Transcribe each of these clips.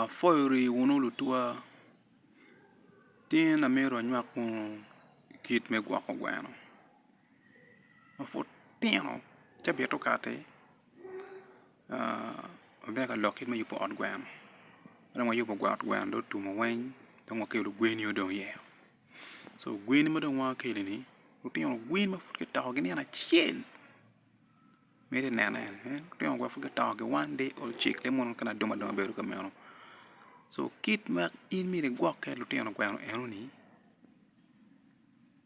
Apwoyo rii wunu lutwa, tin amito anywak wunu kit me gwoko gweno ma pud tino ci abito kati abita ka lok kit me yubo ot gweno, ka dong wayubo ot gweno dong otum-mu weng dong wakelo gweni ma dong iyeo, so gweni ma dong wakelo-ni lutino gweni ma pud kitoko gin nino acel. Miti neno en, en lutino gwok pud gidongo ki one day old chick le mono kene aduma aduma bedo ka meno so kit ma in myero igwokke lutino gweno enoni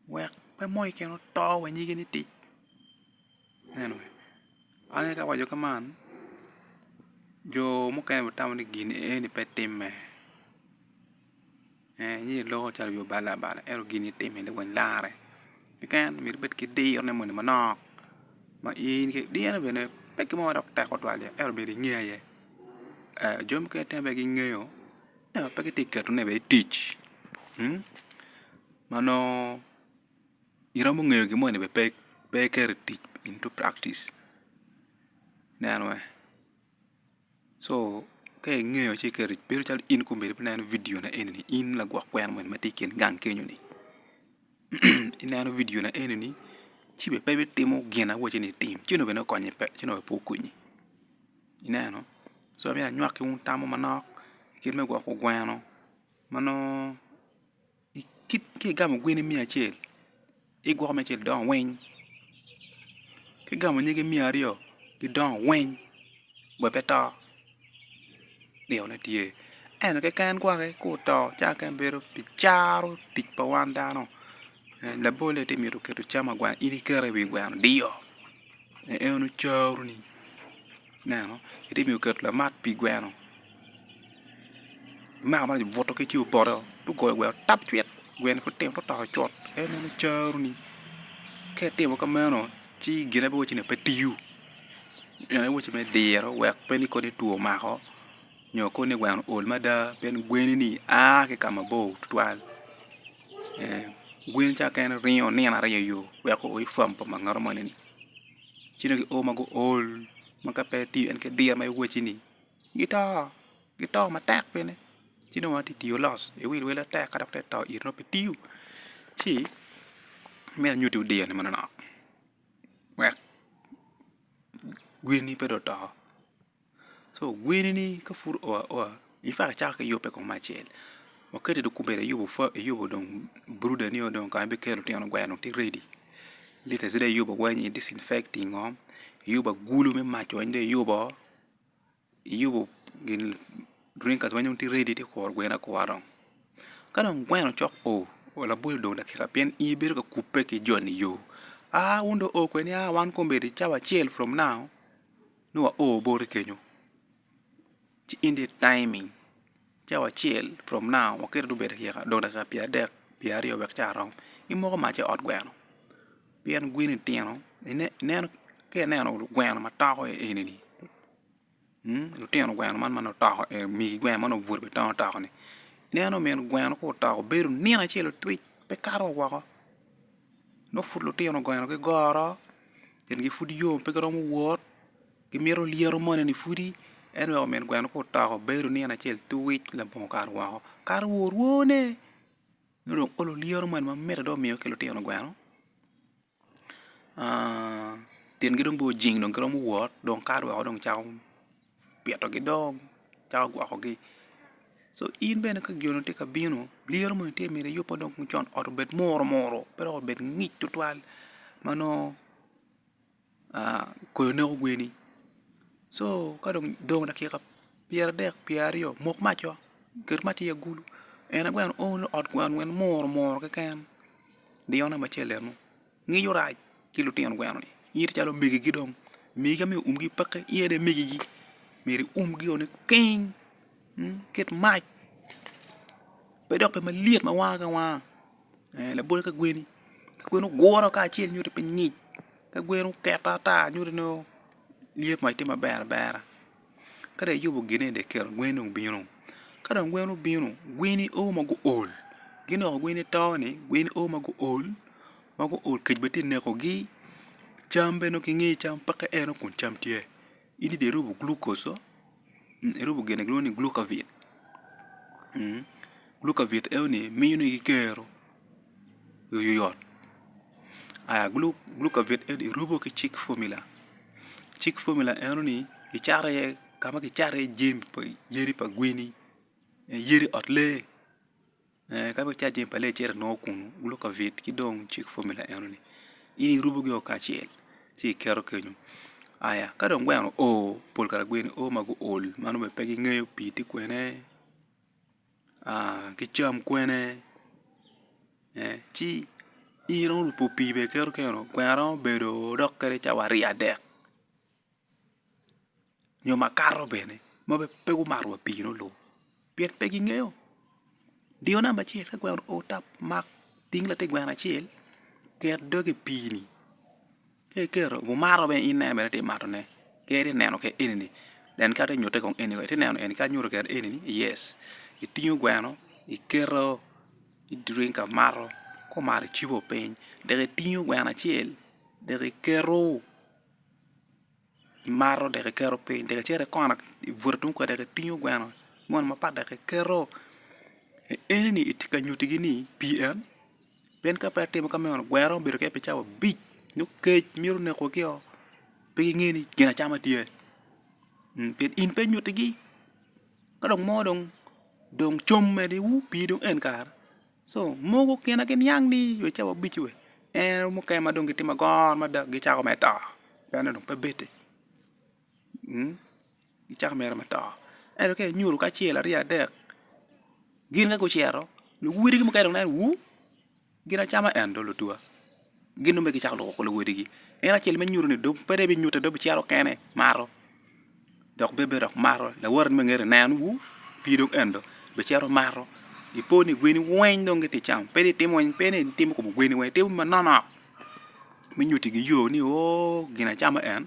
wek pe mo keken oto wa nyige ni tic ineno ange ka awaco ka man jo mukene bene tamo ni gin eni pe timme Yecu loko calo obio balo abala ento gin itime lawany larre keken myero ibed ki diro ne moni manok ma in ki diro bene pe gin mo dok tek tutwal ye ento myero inge aye jo mukene itemo bene gingeyo ento pe gitye keto ne bene i tic ma nongo iromo ngeyo gin moni bene pe iketo i tic into practice neno weng. So ka ingeyo ci iketo bedo calo in kong obedo ineno vidio na enini in lagwok kwena moni matye i kin gang kenyo ni ineno vidio na enini ci bene pe itimo gin ma awacci ni itim ci onongo bene okonyi pe ci onongo bene pe okonyi ineno so myero anywaki wun tam mo manok kit me gwoko gweno ma nongo Ki igamo gweni miya acel, igwoko miya acel gidongo weng, ki igamo nyige miya aryo gidongo weng bot pe to dikone tye. Ento keken gwaki ka oto ci aneno keken bedo pi caro tic pa wan dano. Labolle ti mito keto cam agwana in ikete i wi gweno dio en eno caroni ineno iti mito keto lamat pi gweno. Omako maraco obuto ki ci opoto ci ogoyo gweno tap cwit gweni pud tino tye toko cut en meno caro ni ka itimo kameno ci gine pe wacci ni pe tiyo en aye wacci me diro wek pe ni kodi two omako nyo kodi ni gweno ool mada pien gweni ni a ki ka mabor tutwal gweni ca keken ringo nino aryo iyo wek o i fam pa mangaro moni ni ci dong gio ma guol ma ka pe tiyo en ki diro ma iwacci ni. gito, gito matek bene ci dong atye ka tiyo loss iwil wila tek ka dok tek to it nongo pe tiyo ci me anyutti odiyo ni manonok wek gweni pe dong oto so gweni ni ka pud oa oa icako acaka ki yubbe kong me acel wakati dong kubeddo iyubo dong brooder nio dong kong bikelo lutino gweno dong tye ready lite ci dong iyubo weny i disinfecting oo iyubo agulu me maco weny dong iyubo oo iyubo gin green card ma tye ready ci kuro gweno akura dong ka dong gweno cok o wa labol odong dakika pien in ibedo ka kubbe ki joni yo a wun dong o kwedni a wan kombeddi cawa acel from now ni wa o boti kenyo ci in dong i taiming cawa acel from now waketo dong obed dakika pyera adek pyera aryo wek ca rom imoko mac i ot gweno Pien gweni tino, ineno ka ineno gweno ma toko eni-ni, lutino gweno man ma nongo toko eni, migi gweno ma nongo obuto bene tongo toko-ni, ineno min gweno ka otoko bedo nino acel otwic pe kato wa woko, nongo pud lutino gweno gigoro, itgi pud yom pe giromo wot, gimito lyeto moni-ni pwodi, ento weko min gweno ka otoko bedo nino acel twic labongo kato woko, kato wa orwone. nyo dong olo lyeto moni ma mit dok omiyo ki lutino gweno tyengi dong bene ojing dong giromo wot dong kato weko dong cako pitogi dong cako gwokogi co in bene ka gin tye ka bino lyeto moni tye myero iyub ma dong ocon ot obed muru muru pe dong obed ngic tutwal ma nongo koyo neko gweni so ka dong dong dakika pyeradek pyeraryo mok maco ket mac i agulu en aye gweno oo ni ot gweno weny muru muru keken diyo namba acel enu ngico rac ki lutino gweno ni in ito calo omegigi dong megi ka myero omgi peke in aye dong imegigi myero iumgi o ni piny ket mac pe dok pe malyet ma wanga ki wanga. labol ka gweni ka gweni oguro kacel nyuto pe ngic ka gweni oketo ata nyuto ni lyet mac tye maber abera ka dong iyubo gine dong ikelo gweni dong bino ka dong gweni obino gweni oo ma guol gin onongo gweni to ni gweni oo ma guol ma guol kec bene tye ka nekogi cam bene nongo kingeyo cam peke en aye kun cam tye. In dong irubo glucose oo, irubo gin ma kilwongo ni glucovit, glucovit enoni miyo ni ki kero i wi oyot, aya glucovit eni irubo ki chick formula, chick formula enoni icato iye kama kicato iye jami pa yadi pa gweni, yadi ot lee. Ka pe wucato jami pa lee icito inongo kunu, guloko avit ki dong cik fomula enoni, in irubogi woko kacel ci iketo kenyu. Aya, ka dong gweno oo, pol kare gwe ni oo ma guol, mano bene pe gingeyo pii tye kwene, ki cam kwene, ci in iromo rupo pii bene iketo kenyu, gweno romo bedo dok kadi cawa aryo adek. nyo makato bene ma pe gumato wa pii nongo luwa pien pe gingeyo diro namba acel ka gweno oo tap mak ting latin gweno acel ket dogi i pii ni ka iketo wumato bene in en bene itye ka mato ne kadi itye ka neno kwede eni ni nen kadi itye ka nyutte kong eni ni itye ka neno eni kadi nyuto kwede eni ni yes itingo gweno iketo i dringa mato ka omato icibo piny dok itingo gweno acel dok iketo. imato dek iketo piny dek icito ikona ibute tung kwede dek itingo gweno moni mapat dek iketo enoni itye ka nyutigi ni pi en pien ka pe atimo ka meno gwer romo bedo keken pi cawa abic nyo kec mito nekogi o pe ginge ni gin acama tye pien in pe inyutigi ka dong mo dong dong com meniwu pi dong en kare So mogo kine ki niang ni we cawa obici we en mukene ma dong gitimo agor mada gicako mere to pienn en dong pe bete gicako mere me to ento ka inyuto kacel aryo adek gin ka gucito luwotgi mukene dong neno wu gin acama en dong lutuwa. Gin dong pe gicako loko ko luwodigi. En acel me nyuto ni dong pe dong binyute dong bicito kene mato dok bebe dok mato lawote ni me ngete neno wu pi dong en dong bicito mato ipo ni gweni weng dong giti cam pe ni itimo weny pe ni itimo kom gweni weny itimo manonok me nyutigi yo ni oo gin acama en.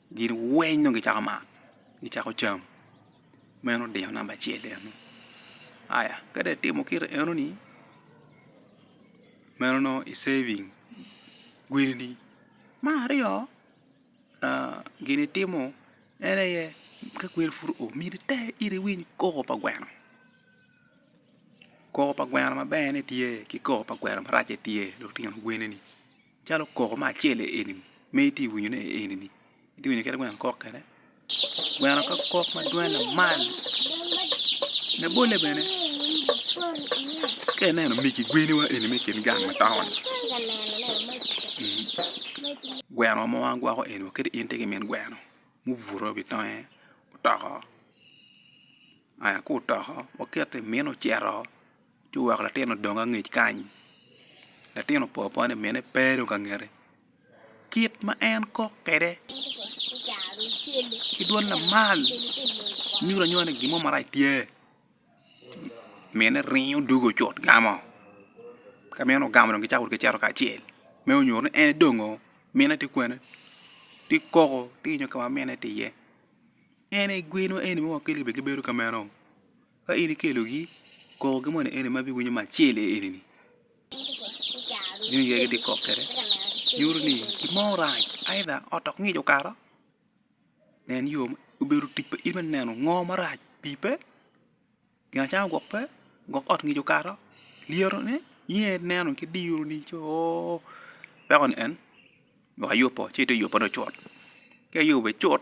Gin weng dong gicako maa, gicako cam. Meno dino namba acel eno. Aya, ka dong itimo kit enoni, meno nongo i saving gwenini. Me aryo, gin itimo en aye ka gweni pud oo, myero iter ite iwiny koko pa gweno. Koko pa gweno maber-re tye ki koko pa gweno maracce tye, lutino gwenini. Calo koko ma acel eni ma itye ka winyo ne eni ni itye ka winyo kit ma gweno kok kwede gweno ka kok ma dwong lamal labolle bene ka ineno migi gweni wa eni me kin gang ma taun gweno mo ma gwoko eni wa kadi in itye ki min gweno mubuto i wi tonge otoko aya ka otoko wakito i mine ocito. Ci oweko latin odong angec kany, latin opo apoa ni mine pe dong ka ngete, kit ma en kok kwede ki dwon lamal nyuto anyuta ni gin mo marac tye, mine ringo dugo cut gamo, ka mine ogamo dong gicako wot cito kacel me nyuto ni en dongo, mine tye kwene? tye koko tye nyo ka ma mine tye iye, en aye geno eni ma wakele bene gibedo ka meno. Ka in ikelogi, kokogi moni eni ma biwinyo me acel eni-ni, jami aye gitye ka kok kwede, nyuto ni gin mo orac aidha ot dok ngic okato, nen yo, obedo tic pa in me neno ngo marac, pii pe, gin acama gwok pe, gwok ot ngic okato, lyetone, in aye ineno ki diro ni co oo weko ni en gwok ayub oo ci ite yubbe ni ocut, ka iyubo icut.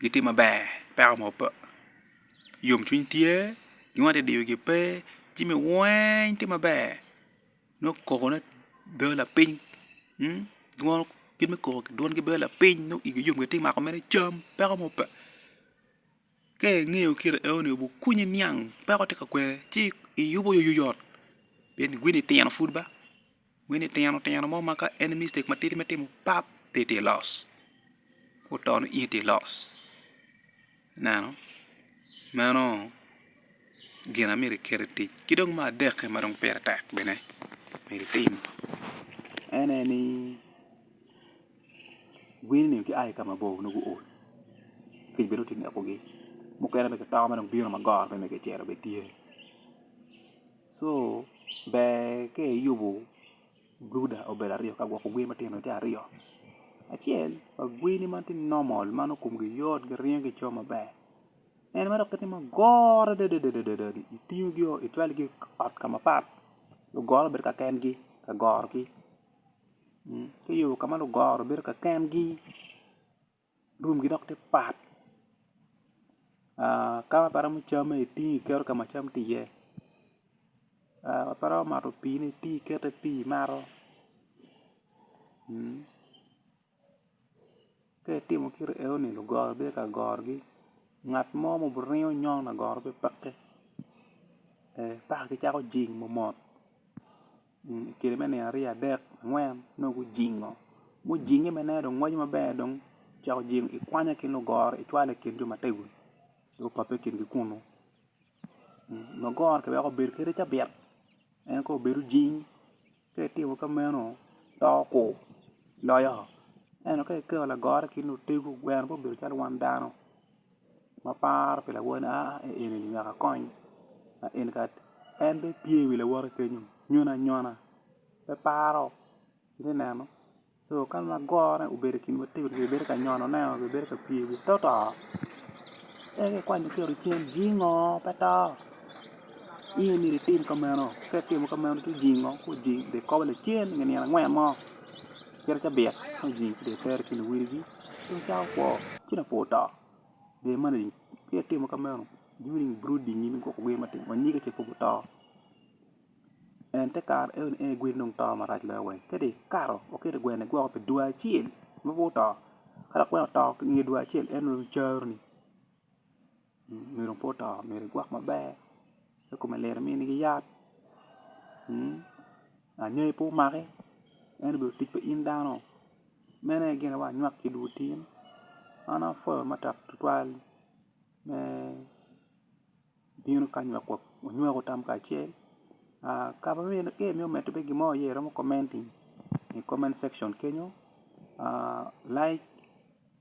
gitye maber peko mo pe yomcwiny tye gin ma diyo gi pe jami weng tye maber nongo koko ne bedo lapiny gin me koko dwon gi bedo lapiny nongo igi yom gitye mako mere cam peko mo pe ka ingeyo kite enoni obukunyi niang peko tye ka kwene ci iyubo yot pien igwinyo itino pud ba. Wi litino tino mo ma ka en i mistake matidi me timo pap pe tye loss otono in itye loss ineno meno gin amyero iket i tic ki dong me adeki ma dong pire tek bene myero itim en aye ni winy ni gia ki ka mabor nongo guol kec bene dong tye ka nekogi mukene bene gitoko ma dong bino ma goro bene kicito bene tye. So ber ka iyubo brooder obedo aryo ka gwoko gwe matino tye aryo acel pa gweni ma tye normal ma nongo komgi yot giringo gico maber en ma dok kitimo goro adadadadani itingogi o itwalogi i ot ka mapat lugoro bedo ka kengi ka gorogi ka iyubo ka ma lugoro bedo ka kengi Room gi dok tye pat ka ma pe iromo camme itingo iketo ka ma cam tye iye ka ma pe iromo mato pii ni itingo iketo iye pii imato ka itimo kit eno ni lugoro bino ka gorogi ngat mo ma obiringo nyongo lagoro pe peke paka gicako jing mo mot. Kine me nino aryo adek angwen nongo gujingo mujinge ma ineno dong ngweco maber dong cok ojingo ikwanye ki lugoro icwalo i kin jo ma tego dong opape i kingi kunu lugoro ki weko obedo kadi cabit en kong obed ojing ka itimo ka meno doko kur loyo ento ka iketo lagoro i kin otegu gweno pe obedo calo wan dano. ma paro pi lawote a i eni ni wek akony ma eni kala en bene tye i wi lawote kenyo nyono anyona pe paro itye neno co kadi ma gore obedo i kin wa tekwaro bedo ka nyonone oo nyo bedo ka pye i wi toto en aye ikwanyo iketo cen jingo pe to in aye myero itim ka meno ka itimo ka meno ci jingo ci ojing dong ikobo lacen nge nino angwen mo cito cabit ci ojing ci dong itere ki luwiligi Pien cawa kwo ci lapor oto dye man aye ci atimo ka meno during brooding in gwoko gin ma atingo anyige ce pud guto and te kare eno ni en aye gweni dong to marac loyo weng ka dong ikato iketo gweno igwoko pi dwe acel ma pud oto ka lakwena oto inge dwe acel en dong caro ni. Myero pe oto myero igwok maber pe kome lit iminigi yat anyai pe omaki en obedo tic pa in dano meno aye gin ma anywak ki dul otin an apwoyo matek tutwal me bino kany wek wanywek tam kacel ka imito medo bene gin mo aye iromo commenting i comment section kenyo like.